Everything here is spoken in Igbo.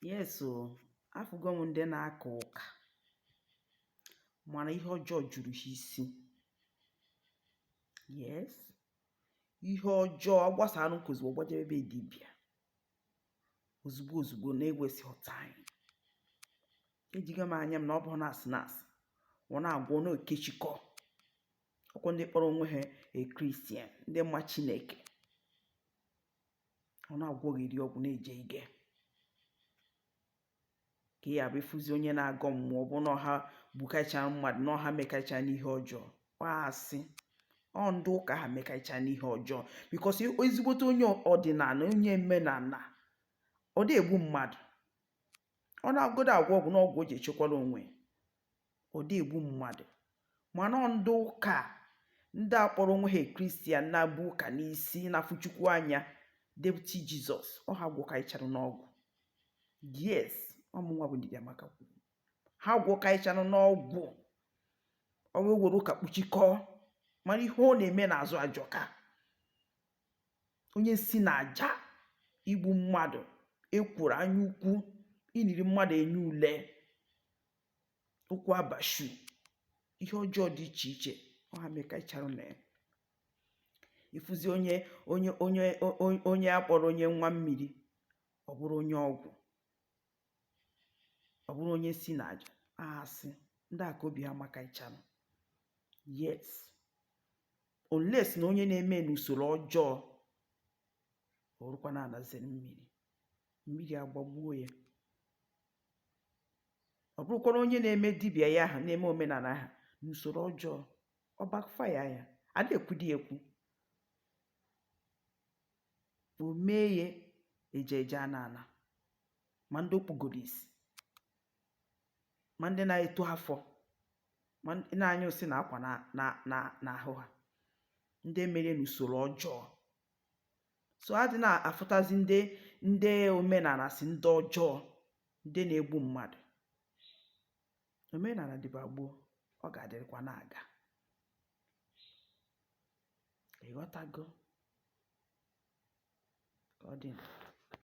Yes o, afụgo m ndị na-aka ụka mana ihe ọjọọ juru ha isi. Yes, ihe ọjọọ ọ gbasara n'ụka ozugbo ọ gbajebe be dibịa ozugbo ozugbo na-ewesịghị time. Ejigo m anya m na ọ bụghị na asị na asị ọ na-agwọ ọ na-ekechikọ ọkwa ndị kpọrọ onwe ha a Christian ndị ma Chineke ọ na-agwọgheri ọgwụ na-eje ige ka ya bụ ị fụzi onye na-agọ mmụọ ọ bụ na ọ ha gbukaịcha mmadụ na ọ ha mekaịcha n'ihe ọjọọ a sị ọ ndị ụka ha mekaịcha n'ihe ọjọọ because ezigbote onye ọdịnana onye omenana ọ dị egbu mmadụ ọ na-agodo agwọ ọgwụ na ọgwụ o ji echekwara onwe ọ dị egbu mmadụ mana ọ ndị ụka ndị a kpọrọ onwe ha Christian na-ebu ụka n'isi na-afụ Chukwu anya deputy Jesus ọ ha gwọkaicharụ n'ọgwụ yes ọ mụnwa bụ Ndidiamaka kwuru ha gwọkaicharụ n'ọgwụ o wee were ụka kpuchikọọ mana ihe ọ na-eme n'azụ ajọka onye nsi na aja igbu mmadụ ekworo anya ukwu iniri mmadụ enye ule ụkwụ abortion ihe ọjọọ dị iche iche ọ ha mekaịchara na ya ị fụzi onye onye onye onye a kpọrọ onye nwa mmiri ọ bụrụ onye ọgwụ ọ bụrụ onye nsi na aja a sị ndị a ka obi ha makaịcharụ yes unless na onye na-eme n'usoro ọjọọ ọ bụrụkwa na anazere mmiri mmiri agbagbuo ya ọ bụrụkwara onye na-eme dibịa ya ahụ na-eme omenana ahụ n'usoro ọjọọ ọ backfire ya a na-ekwudi ekwu o mee ya eje eje ana ana ma ndị o kpugoro isi ma ndị na-eto afọ ma ndị na-anyụ nsị na akwa na na na n'ahụ ha ndị mere n'usoro ọjọọ so a dị na-afụtazi ndị ndị omenana sị ndị ọjọọ ndị na-egbu mmadụ omenana dịba gboo ọ ga-adịrịkwa na-aga ị ghọtago ka ọ dị